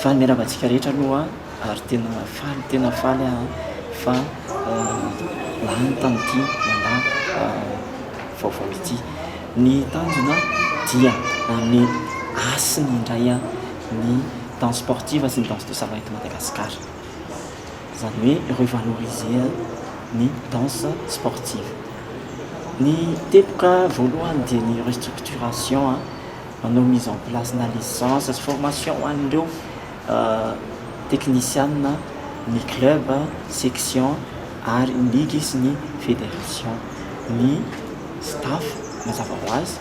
Faly miarahaba antsika rehetra aloha ary tena faly tena faly aho fa lany tamin'ity mandat vaovao ity. Ny tanjona dia ny hasina indray ny danse sportive sy ny danse de salon eto Madagasikara. Izany hoe revaloriser ny danse sportive. Ny teboka voalohany dia ny restructuration, manao mise en place na licence sy formation ho an'ireo teknisiana, ny club, section ary ny ligue sy ny federation. Ny staff mazava ho azy.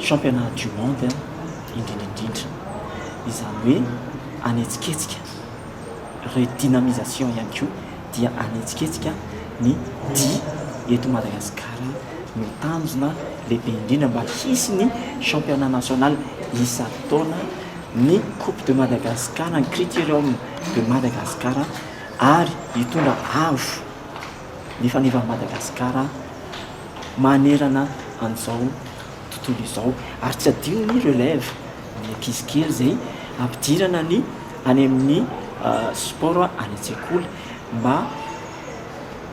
championnat du monde indrindra indrindra. Izany hoe hanetsiketsika redynamisation ihany koa dia hanetsiketsika ny dihy eto Madagasikara no tanjona lehibe indrindra mba hisy ny championnat national isan-taona, ny coupe de Madagascar, ny criterium de Madagascar ary hitondra avo. ny fanevan'i Madagasikara manerana an'izao tontolo izao. Ary tsy adino ny relève, ny ankizy kely izay ampidirana ny any amin'ny sport any an-tsekoly mba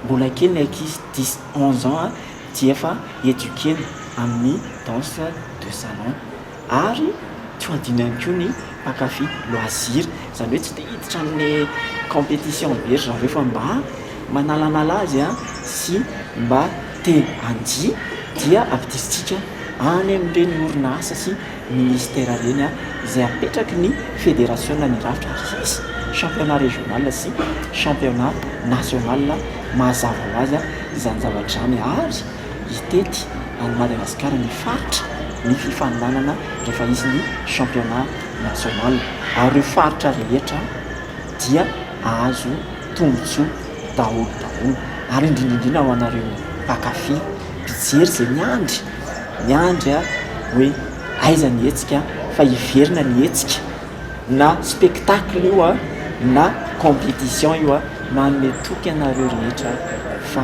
mbola kely ny ankizy dix onze ans dia efa eduquer-na amin'ny danse de salon. Ary tsy ho adino ihany koa ny mpankafy loisir. Izany hoe tsy te hiditra amin'ny competition be ry zareo fa mba manalanala azy sy mba te handia dia ampidirintsika any amin'ireny orinasa sy ministera ireny izay apetraky ny federasiona ny rafitra ary hisy championnat régional sy championnat national mazava ho azy izany zavatra izany ary hitety an'i Madagasikara ny faritra ny fifaninanana rehefa hisy ny championnat national ary ireo faritra rehetra dia ahazo tombotsoa daholo daholo ary indrindra indrindra ho anareo mpankafy mpijery izay miandry miandry a hoe aiza ny hetsika fa hiverina ny hetsika na spectacle io a na competition io a manome toky anareo rehetra fa